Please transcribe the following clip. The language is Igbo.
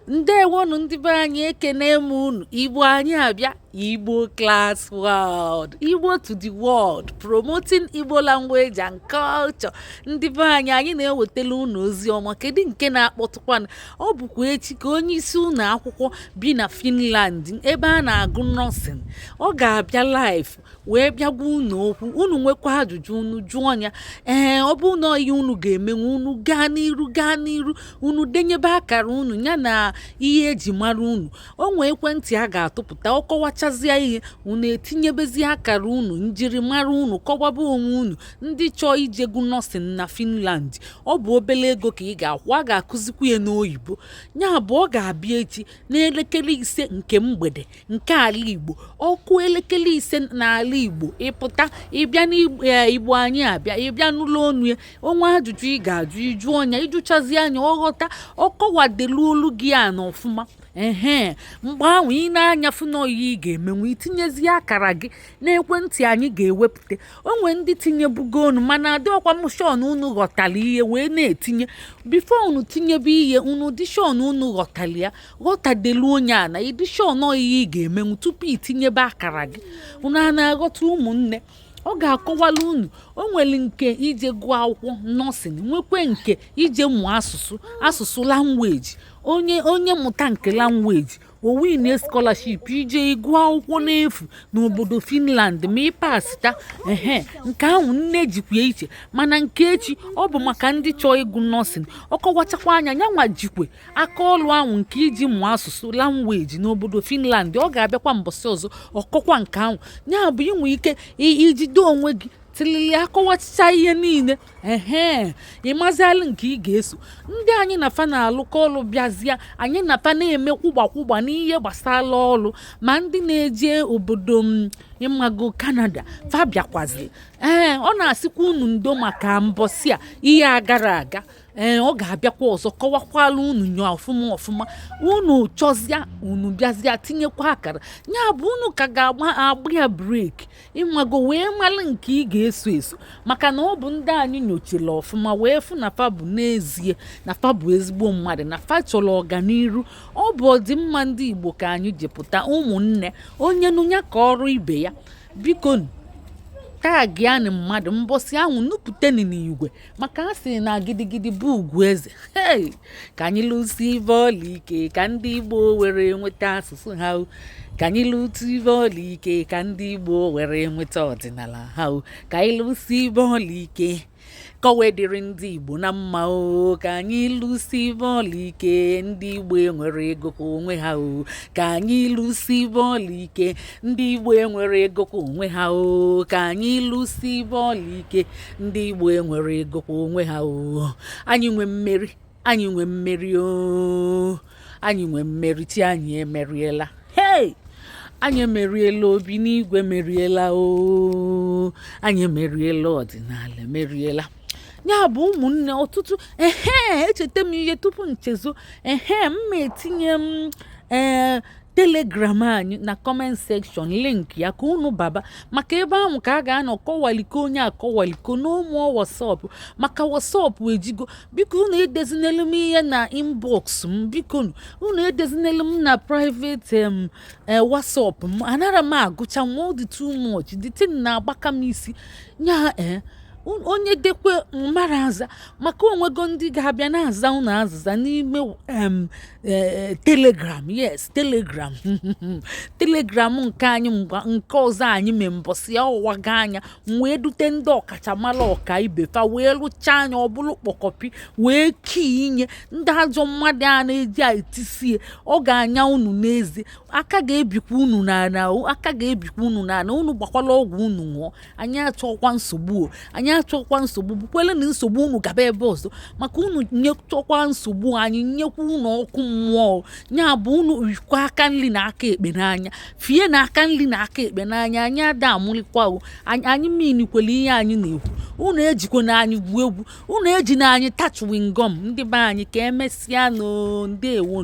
ndewonu ndị be anyị ekene m unu igbo anyị abịa igbo class world igbo to the world promoting igbo language and culture ndị be anyị anyị na-ewetala unu ozi ọma kedu nke na-akpọtụkwanụ ọ bụkwa echi ka onye isi ụlọ akwụkwọ bi na finland ebe a na-agụ nursing ọ ga-abịa live wee bịa gwa unu okwu unu nwekwa ajụjụ unu jụọ ya ee ọ bụ na ihe unu ga-emenwu unu gaa n'iru gaa n'iru unu denyebe akara unu ya na ihe eji mara unu o nwee ekwentị a ga-atụpụta ọ kọwachazịa ihe unu etinyebezi akara unu njirimara unu kọwaba onwe unu ndị chọọ ije gụọ nursing na Finland ọ bụ obele ego ka ị ga-akwụ a ga-akụzikwu ya n'oyibo ya bụ ọ ga-abịa echi n'elekere ise nke mgbede nke ala igbo ọ kụọ elekere ise n'ala igbo ị pụta ị bịa n'igbo anyị abịa ị bịa nụlụ ọnụ ya o nwee ajụjụ ị ga-ajụ ị jụọ nya ị jụchazịa nya ọ ghọta ọ kọwadeluolu gị nya ọfụma ehe mgbe ahụ i nee anya fụ n'ọ ihe ị ga-emenwu i tinyezie akara gị n'ekwentị anyị ga-ewepụta o nwe ndị tinyebugonu mana adịrọkwa m sure na unu ghọtara ihe wee na-etinye before unu tinyebe ihe unu dị sure na unu ghọtara ya ghọtadeluo nya na ị dị sure n'ọ ihe ị ga-emenwu tupu i tinyebe akara gị unu a na-aghọta ụmụnne ọ ga-akọwala unu o nwere nke ije gụọ akwụkwọ nursing nwekwe nke ije mụọ asụsụ asụsụ language onye mụta nke language o win scholarship ije ịgụ akwụkwọ n'efu n'obodo finland ma ị pasita ehe nke ahụ nne jikwa iche mana nke echi ọ bụ maka ndị chọọ ịgụ nursing ọ kọwachakwaa nya nyanwa jikwe aka ọlụ ahụ nke ije mụọ asụsụ language n'obodo finland ọ ga-abịakwa mbọsị ọzọ ọ kọkwa nke ahụ ya bụ i nwe ike ijide onwe gị tilili a kọwachịchaa ihe niile ehe ị mazịalụ nke ị ga-eso ndị anyị na fa na-alụkọ ọlụ bịazịa anyị na fa na-eme kwụgba kwụgba n'ihe gbasara ọlụ ma ndị na-eje obodo ị mago canada fa bịakwazị ee ọ na-asịkwa unu ndo maka mbọsị a ihe a gara aga ee ọ ga-abịakwa ọzọ kọwakwala unu nya ọfụma ọfụma unu chọzịa unu bịazịa tinyekwa akara ya bụ unu ka ga-agba agba ya break ị mago wee malụ nke ị ga-eso eso maka na ọ bụ ndị anyị nyochara ọfụma wee fụ na fa bụ n'ezie na fa bụ ezigbo mmadụ na fa chọrọ ọganiru ọ bụ ọdịmma ndị Igbo ka anyị ji pụta ụmụnne onye nụ ya kọọrọ ibe ya biko tagịanụ mmadụ mbọsị ahụ nupụtanụ n'igwe maka a sị na gidigidi bụ ugwu eze hey! ka anyị lụsibe ọlụ ike ka ndị igbo were nweta asụsụ ha o. ka anyị lụsibe ọlụ ike ka ndị igbo were nweta ọdịnala ha o. ka anyị lụsibe ọlụ ike ka o wee dịrị ndị igbo na mma o ka anyị lụsibe ọlụ ike ndị igbo enweregokwa onwe ha o ka anyị lụsibe ọlụ ike ndị igbo enweregokwa onwe ha o ka anyị lụsibe ọlụ ike ndị igbo enweregokwa onwe ha oo anyị nwe mmeri anyị nwe mmeri oo anyị nwe mmeri chi anyị emeriela hei anyị emeriela obi n'igwe meriela oo anyị emeriela ọdịnala emeriela ya bụ ụmụnne ọtụtụ ehe echeta m ihe tupu nchezo ehe m ma etinye m ee telegram anyị na comment section link ya ka unu baba maka ebe ahụ ka a ga-anọ kọwaliko onye akọwaliko n'ụmụọ whatsapp maka whatsapp ejugo biko unu edezinelu m ihe na inbox m biko unu edezinelu m na private eh, whatsapp m anara m agụcha nwa ọ dị too much the thing na-agbaka m isi nya ee eh, onye dekwe m ara aza maka o nwego ndị ga-abịa na-aza unu azịza n'ime ee eh, telegram yes telegram telegram nke anyị mgba nke ọzọ anyị mee mbọsị a ọwaga anya wee dute ndị ọkachamara ọka ibe fa wee lụchaa anya ọ bụrụ kpọkọpi wee kii inye ndị ajọ mmadụ a na-eji etisie ọ ga-anya unu n'eze aka ga-ebikwa unu n'ana aka ga-ebikwa unu n'ana unu gbakwalụ ọgwụ unu ṅụọ anyị achọkwa nsogbu o anyị achọkwa nsogbu bukwelenụ nsogbu unu gaba ebe ọzọ maka unu nyechọkwa nsogbu anyị nyekwa unu ọkụ mmụọ o. ya bụ unu fikwa aka nri na aka ekpe n'anya fienụ aka nri na aka ekpe n'anya anyị ada amụlịkwa o anyị anyị meanikwele ihe anyị na-ekwu unu ejikwana anyị gwuo egwu unu ejina anyị ta chewing gum ndị be anyị ka emesịanụ ndewo